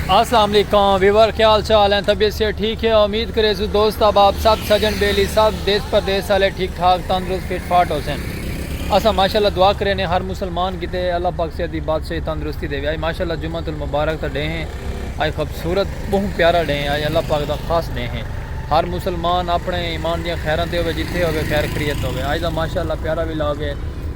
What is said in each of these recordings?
السلام علیکم ویور کیا حال چال ہیں طبیعت سے ٹھیک ہے امید کرے سو دوست اب آپ سب سجن بیلی سب دیس پردیس والے ٹھیک ٹھاک تندرست فٹ فاٹ ہو سن اسا ماشاءاللہ دعا کرے نے ہر مسلمان کیتے اللہ پاک سے دی بادشاہ تندرستی دے اے ماشاءاللہ جمعہ المبارک تے ڈے ہیں اے خوبصورت بہت پیارا ڈے ہیں اے اللہ پاک دا خاص ڈے ہیں ہر مسلمان اپنے ایمان دی خیراں تے ہوے جتھے ہوے خیر خریت ہوے اے دا ماشاءاللہ پیارا ویلا ہوے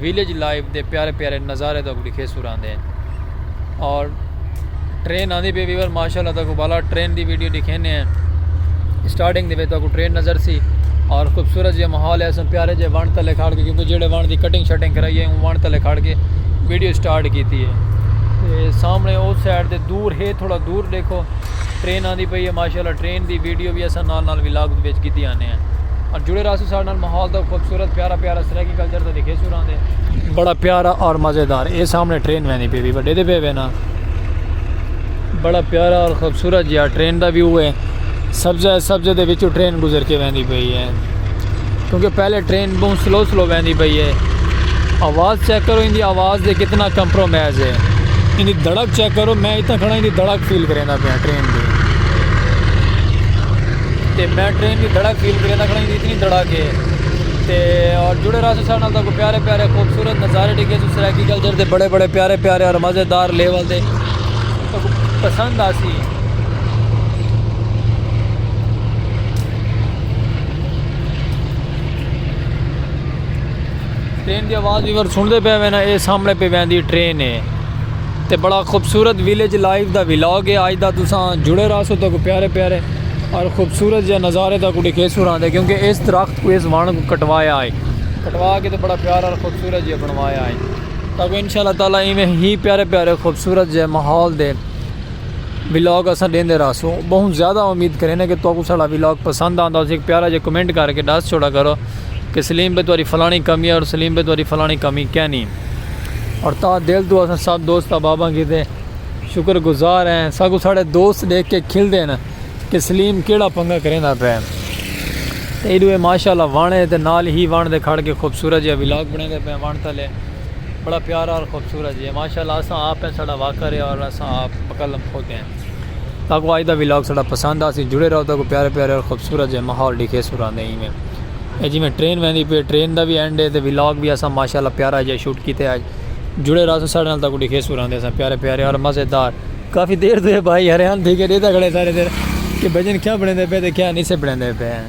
ویلیج لائف دے پیارے پیارے نظارے تہاکوں ڈکھیسوں راندے ہیں اور ٹرین آندی پی ویور ماشاءاللہ تہاکوں بالا ٹرین دی ویڈیو ڈکھینے ہیں سٹارٹنگ دے وچ تہاکوں ٹرین نظر سی اور خوبصورت جے ماحول ہے اساں پیارے جے وان تلے کھڑ کے کیونکہ جڑے وان دی کٹنگ شٹنگ کرائی ہے وان تلے کھڑ کے ویڈیو سٹارٹ کیتی ہے سامنے او سائیڈ دے دور ہے تھوڑا دور دیکھو ٹرین آندی پئی ہے ماشاءاللہ ٹرین دی ویڈیو وی اساں نال نال ولاگ دے وچ گھدی آنے ہیں اور جڑے رہسو ساڈے نال ماحول دا خوبصورت پیارا پیارا سرائیکی کلچر دا دکھیسو راندے بڑا پیارا اور مزیدار اے سامنے ٹرین ویندی پئی وی بڑے دے پے وینا بڑا پیارا اور خوبصورت جیا ٹرین دا ویو ہے سبزہ سبزہ دے وچو ٹرین گزر کے ویندی پئی ہے کیونکہ پہلے ٹرین بہت سلو سلو ویندی پئی ہے آواز چیک کرو ان دی آواز دے کتنا کمپرومائز ہے ان دی دھڑک چیک کرو میں اتنا کھڑا ان دی دھڑک فیل کریں دا پیا ٹرین دی تے میں ٹرین دی دھڑک فیل کریں دا کھڑا ان دی اتنی دھڑک ہے تے اور جڑے رہا سو سارے نال تاکو پیارے پیارے خوبصورت نظارے ڈگے سو سرائیکی کلچر دے بڑے بڑے پیارے پیارے اور مزیدار لیول دے تاکو پسند آسی ٹرین دی آواز وی ور سنڑ دے پے وے نا اے سامنے پے ویندی ٹرین اے تے بڑا خوبصورت ویلیج لائف دا ولاگ اے آج دا تساں جڑے رہسو تو کو پیارے پیارے اور خوبصورت جے نظارے دا کو ڈیکھے سو راندے کیونکہ اس درخت کو اس وان کو کٹوایا آئے کٹوا کے تو بڑا پیارا اور خوبصورت جے بنوایا آئے تاکہ انشاءاللہ تعالی ایویں ہی پیارے پیارے خوبصورت جے ماحول دے ولاگ اساں ڈیندے راہسوں بہوں زیادہ امید کریندے کہ تہاکوں ساڑا ولاگ پسند آندا ہوسی۔ ہک پیارا جیا کمنٹ کر کے ڈس چھوڑا کرو کہ سلیم بھائی تہاڈی فلانی کمی ہے اور سلیم بھائی تہاڈی فلانی کمی کینی۔ اور تہاڈے دل توں اساں سب دوست احباباں کیتے شکر گزار ہیں۔ ساکوں ساڑے دوست ڈیکھ کے کھلدے نہ کہ سلیم کیڑا پنگا کریندا پئے۔ ایڈو اے ماشاءاللہ وݨ اے تے نال ہی وݨ دے کھڑ کے خوبصورت جیا ولاگ بݨیندے پئے وݨ تلے۔ بڑا پیارا اور خوبصورت جی ہے ماشاءاللہ اساں آپ ہیں ساڑا واقعہ رہیا اور اساں آپ مکلم خود ہیں تاکو آج دا ویلاگ ساڑا پسند آسی جڑے رہو تاکو پیارے پیارے اور خوبصورت جی ماحول ڈیکھے سوران دے ایمیں اے جی میں ٹرین ویندی پہ ٹرین دا بھی اینڈ ہے تے ویلاگ بھی اساں ماشاءاللہ پیارا جی شوٹ کیتے آج جڑے رہو ساڑا نال تاکو ڈیکھے سوران دے اساں پیارے پیارے اور مزیدار کافی دیر دے بھائی ہریان تھی کے دیتا گھڑے سارے دیر کہ بجن کیا بڑھیں دے پہ تے کیا نہیں سے بڑھیں دے پہ ہیں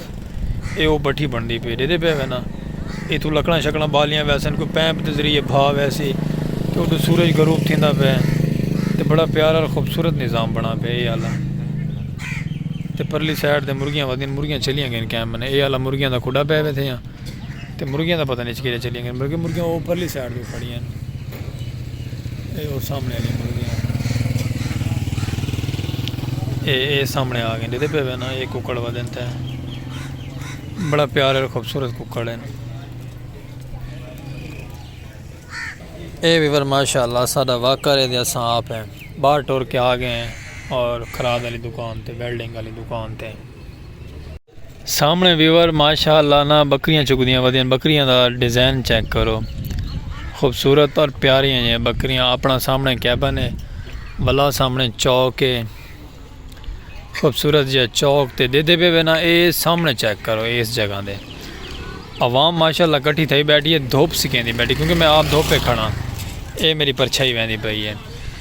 اے او بٹھی بنڑدی پی ڈیدے پے وے نا ایتھو لکڑاں شکڑاں بالیاں ویسن کوئی پیمپ دے ذریعے بھا ویسی کہ اڈو سورج غروب تھیندا پے تے بڑا پیارا اور خوبصورت نظام بنا پے اے آلا تے پرلی سائیڈ تے مرغیاں ودین مرغیاں چلیاں گئین کیمپ نے اے آلا مرغیاں دا کھڈا پے وے تھیاں تے مرغیاں دا پتہ نئیں کیرے چلیاں گن بلکہ مرغیاں او پرلی سائیڈ تے کھڑیاں ہن اے او سامنے والی مرغیاں اے اے سامنے آ گئے ڈیدے پہ وے نا اے ککڑ وا دین تے بڑا پیار اور خوبصورت ککڑ ہیں اے ویور ماشاءاللہ ساڈا واقعہ رہ دیا ساں آپ ہیں باہر ٹور کے آ گئے ہیں اور خراد والی دکان تے ویلڈنگ والی دکان تے سامنے ویور ماشاء اللہ نا بکریاں چکدیاں ودیاں بکریاں دا ڈیزائن چیک کرو خوبصورت پر پیاریاں جی بکریاں اپنا سامنے کیبن ہے بلا سامنے چوک ہے خوبصورت جی چوک تے دے دے بے بنا اے سامنے چیک کرو اس جگہ دے عوام ماشاء اللہ کٹھی تھائی بیٹھی ہے دھوپ سکیں دی بیٹھی کیونکہ میں آپ دھوپ پہ کھڑا اے میری پرچھائی ویندی پئی ہے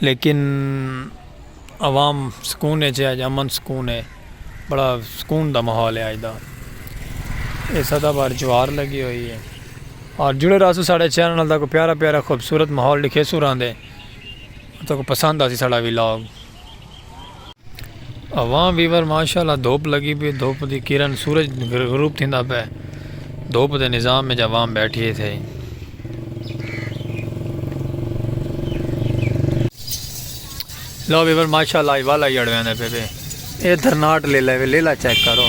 لیکن عوام سکون اچ ہے اج امن سکون ہے بڑا سکون دا ماحول ہے اج دا اے سدا بار جوار لگی ہوئی ہے اور جڑے راسو ساڑے چینل نال تاکو پیارا پیارا خوبصورت ماحول ڈکھے سو راندے تاکو پسند آسی ساڑا ویلاگ۔ اواں ویور ماشاءاللہ دھوپ لگی پی دھوپ دی کرن سورج غروب تھیندا پے دھوپ دے نظام وچ عوام بیٹھی ہے تھئی لو ویور ماشاءاللہ ای والا ہی اڑویندے پے پے اے درناٹ لے لے لے لا چیک کرو